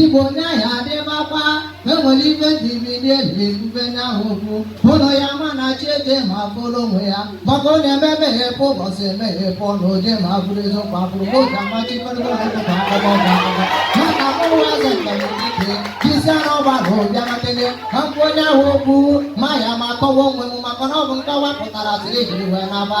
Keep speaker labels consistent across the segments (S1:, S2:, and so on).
S1: Igbo onye ahịa adịmakwa enwere ife dị mmiri eji ekwube nya ahụ okwu ụlọ ya ma na chi eje ma bụrụ onwe ya maka ọ na-eme emeghepụ ụbọchị emeghepụ ọnụ oje ma bụrụ eziokwu abụrụ oge amachikọrịta ọdịkwa akụkọ ọgụgụ maka mụwa eze ndamdike jisia na ọgba na ụbịa matele ka m kwuo nya ahụ okwu ma ya ma kọwa onwe m maka na ọ bụ nkọwa pụtara siri jiri wee naba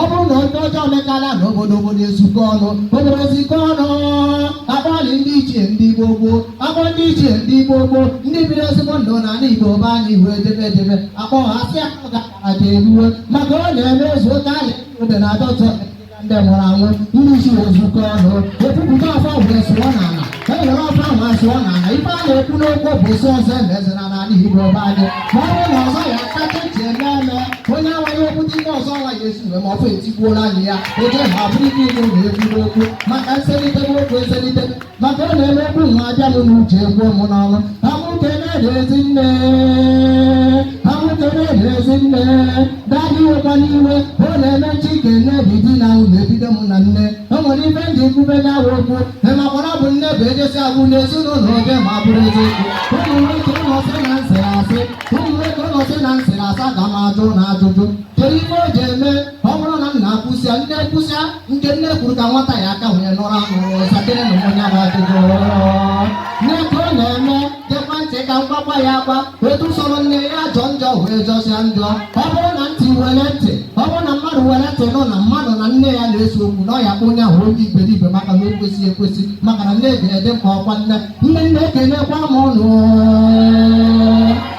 S1: ọ bụrụ na ndị ọjọọ mekala na obodo obodo ezukọ ọnụ obodo ezukọ ọnụ akpọlị ndị ichie ndị gboo gboo akpọ ndị ichie ndị gboo gboo ndị biri ezigbo ndụ na ala igbo be anyị ihu edebe edebe akpọ ha asị ya ọ ga-akara ka eruwe maka ọ na-eme ezu oke ahịa obodo na-adọtọ ndị nwụrụ anwụ ndị ichie ezukọ ọnụ ebupụta ọfọ wee sụọ n'ala ka e were ọfọ ahụ asụọ na ala ife a na-ekwu n'okwu bụ ịsị ọzọ emezina n'ala Igbo be anyị ma ọ bụrụ na ọzọ ya kacha ji eme eme onye amaghị okwu ndị ndị ọzọ ala ga-esi wee ma ọfọ etigbuola anyị ya oje ma bụrụ ike ịnụ na-ekwu n'okwu maka nselite n'okwu eselite maka ọ na-eme okwu nwa abịa m n'uche ekwuo m n'ọnụ ka mụ kene ndị ezinne ka mụ kene ndị ezinne Daddy ewekwana iwe ọ na-eme nchi ka nne bụ di na ahụ na-ebido mụ na nne o nwere ife m ji ekwube nya ahụ okwu emakwara bụ nne bụ ejesi agwụ n'ezinụlọ oje ma bụrụ eziokwu ụmụ nwoke ụnụ sị na m sịrị asị ụmụ nwoke ụnụ sị na m sịrị asị ka m jụọ ụnụ ajụjụ kedu ife o ji eme ọ bụrụ na nna kwusịa nne kwusịa nke nne kwuru ka nwata ya aka wee nụrụ anụ sakene nya bụ ajụjụ nne ka ọ na-eme Gekwa ntị ka m gwakwa ya agwa etu ọ sọrọ nne ya jọ njọ wee jọsịa njọ ọ bụrụ na ntị were ntị ọ bụrụ na mmadụ were ntị nụ na mmadụ na nne ya na-ese okwu na a ya-akpọ onye ahụ onye iberibe maka na o kwesịghị ekwesị maka na nne ga-adị mkpa ọkwa nne nne nne ekenekwa m ụnụ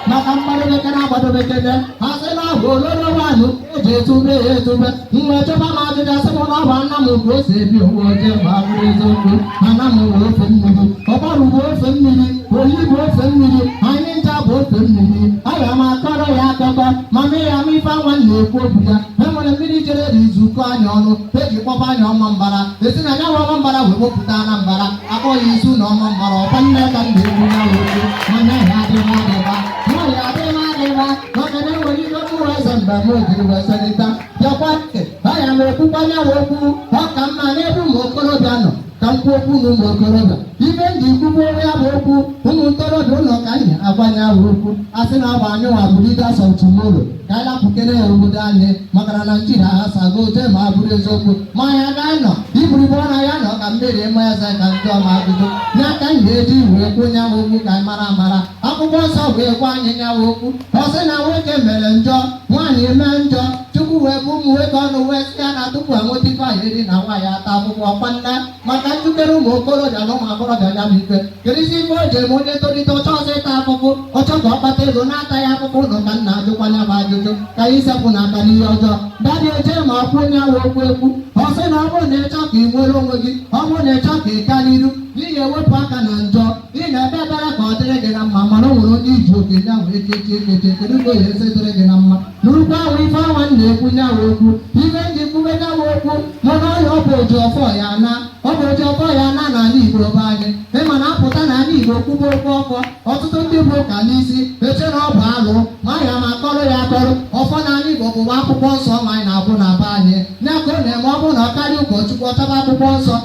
S1: maka mmadụ bekere agbado bekere ha sị na ọ bụ ololo mmanụ eji etube ya etube mgbe a jụba m ajụjụ sị m na ọ bụ Anam bụ ose ebi owu oje ma bụrụ eziokwu Anam bụ ofe mmiri Ọgbarụ bụ ofe mmiri Oyi bụ ofe mmiri anyị ncha bụ ofe mmiri aga m akọrọ ya akụkọ ma mee ya ma ife anwa na-ekwu okwu ya e nwere mmiri jere jizukọ anyị ọnụ eji kpọba anyị Ọmambara esi na ya Ọmambara wee wepụta Anambara akpọ ya Ezu na Ọmambara ọkwa nne ka m na-ekwu ya okwu ma nye ya adịghị adịba nwaanyị adịghị adịba maka na enwere ihe mkpụrụ aza mgbe ama ojiri wee selita bịakwa ntị baya na m kwukwa nya ahụ okwu ọ ka mma n'ebe ụmụ okorobịa nọ ka m kwuo okwu na ụmụ okorobịa ife m ji ekwube nya bụ okwu ụmụ ntorobịa ụnụ ka anyị agwa nya ahụ okwu a sị na ọ bụ anyị nwa bụ leaders of tomorrow ka anyị lapụkere ya obodo anyị maka na naijiria agbasago oje ma bụrụ eziokwu ma ya ga-anọ iburibo na ya nọ ka mmiri ịma eze ka ndị ọma ajụjụ ya ka anyị ga-eji wee kwuo nya ahụ okwu ka anyị mara amara akwụkwọ nsọ wee gwa anyị nyawa okwu ọ sị na nwoke mere njọ nwaanyị eme njọ chukwu wee bụ ụmụ nwoke ọnụ wee sị ya na tupu enweta ife anyị eri na nwaanyị ata ahụhụ kwanna maka njikere ụmụ okorobịa na ụmụ agbọghọbịa ya bụ ife kedụzi ife o ji eme onye tolite ọ chọrọzị ịta ahụhụ ọ chọọ ka ọ kpata ego na-ataghị ahụhụ ụlọ ka m na-ajụkwa ya bụ ajụjụ ka anyị sepụnụ aka n'ihe ọjọọ dadị eje ma kwuo nyawa okwu ekwu ọ sị na ọ bụrụ na ịchọ ka ị nwere onwe gị ọ bụrụ na ịchọ ka ị gaa n'iru na ị ya-ewepụ aka na njọ Ị na-ekpe ekpere ka ọ dịrị gị na mma mana o nwere onye iji oke nye ahụ ekechi ekechi kedu ka o ye esi dịrị gị na mma n'ukwu ahụ ife ọnwa m na-ekwu nyawa okwu ife m ji kwube nyawa okwu mụ na ọhịa ọ bụ oji ọfọ ya na ọ bụ oji ọfọ ya na n'ala Igbo be anyị ị ma na a pụta na ala Igbo kwube okwu ọfọ ọtụtụ ndị bu ụka n'isi eche na ọ bụ alụ ma ya ma akọrọ ya akọrọ ọfọ na ala Igbo bụwa akwụkwọ nsọ ma anyị na-agụ na be anyị ya ka ọ na-eme ọ bụrụ na ọ karịa ụkọchukwu ọ chọba akwụkwọ nsọ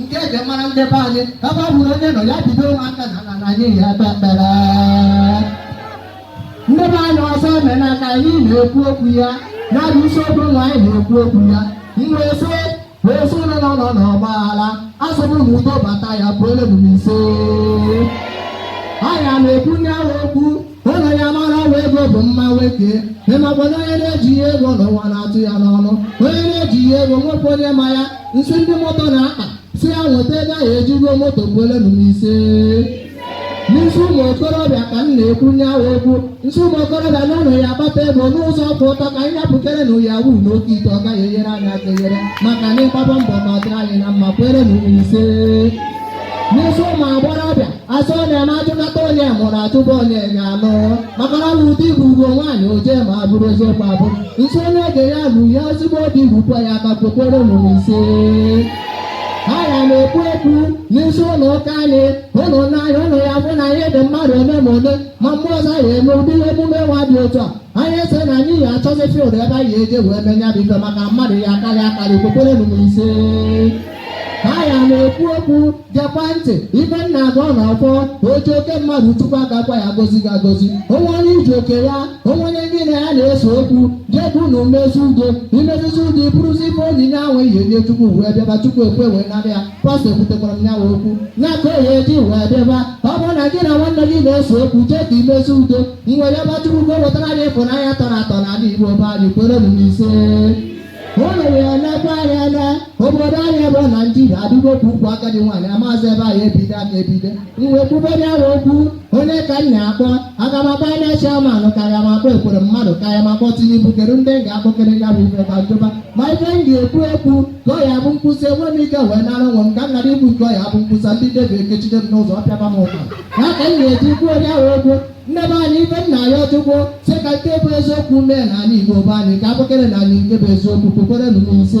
S1: nke eji mara ndị be anyị ebe ọ bụla onye nọ ya bidowe aka n'ana na anyị ye ekpe ekpere ndị be anyị ọzọ emena ka anyị na-ekwu okwu ya ya bụ isiokwu nwa anyị na-ekwu okwu ya mgbe esi wee si ụlọ nọ nọ n'ọgba aghara asọbụ na udo bata ya kwelenụ m ise anyị ya na-ekwu nyawa okwu unu ya mara ọwa ego bụ mma nwoke ị makwa na onye na-ejighị ego na ụwa na-atụ ya n'ọnụ onye na-ejighị ego o nwekwa onye ma ya n sị ndị moto na-akpa sị ya nweta ego ọ ye eji goo moto kwelenụ m ise n sị ụmụ okorobịa ka m na-ekwu nyawa okwu n sị ụmụ okorobịa na unu ya akpata ego n'ụzọ kwụ ọtọ ka anyị hapụkere na ya wuru n'oke ite ọ gaghị enyere anyị aka enyere ma ka anyị gbaba mbọ ka ọ dịrị anyị na mma kwelenụ m ise n sị ụmụ agbọghọbịa a sị ọ na-eme a jụkata onye mụrụ a jụba onye ga-alụ maka na ọ bụ di bụ ugwu nwaanyị oje ma a bụrụ eziokwu abụ n sị onye oge ya lu ya ezigbo di rukwa ya aka kwekwerenụ m ise anyị ya na-ekwu ekwu n sị unu ka anyị ụlọ n'anya unu ya afụ na anyị dị mmadụ ole ma ole ma mgbe ọzọ ya eme ụdị emume nwa dị otu a anyị asị na anyị ya achọzi field ebe anyị eje wee mee nya bụ ife maka mmadụ ya akarị akarị kwekwerenụ m ise anyị ya na-ekwu okwu gekwa ntị ife m na-agọ n'ọfọ oji oke mmadụ tupu agakwa ya gozi gị agozi o nwe onye i ji oke ya o nwe onye gị na ya na-ese okwu je ka unu mezi udo i mezizi udo i buruzi ife onyinye ahụ i ye enye chukwu wee bịaba chukwu ekwe wee nara ya pastọ ekwutekwara m nyawa okwu ya ka o ye eji wee bịaba ọ bụrụ na gị na nwanne gị na-ese okwu jee ka i mezi udo m wee bịaba chukwu ka o wetara anyị ịfụnanya tọrọ atọ n'ala igbo be anyị kwerenụ m ise o mere ya ndị be anyị na obodo anyị bụ naijiria adịgo ka ukwu agadi nwaanyị amaazị ebe a ya-ebido aka ebido mgbe kwubere ya okwu onye ka m na-akpọ aga m akpọ INEC chairman ka aya m akpọ Ekweremadu ka aya m akpọ tinubu kedu ndị m ga-akpọkere ya bụ ife ka njụba ma ife m ga-ekwu ekwu ka ọ ya bụ nkwụsị enwe m ike wee nara onwe m ka m ghara ikwu nke ọ ya-abụ m kwusịa ndị debi ekechide m n'ụzọ ọpịaba m ụka ya ka m ga-eji kwuo onye ahụ okwu ndị be anyị ife m na-ayọ Chukwu sị ka nke bụ eziokwu mee n'ala Igbo be anyị ka a kọkerenụ anyị nke bụ eziokwu kwekwere n'ụzọ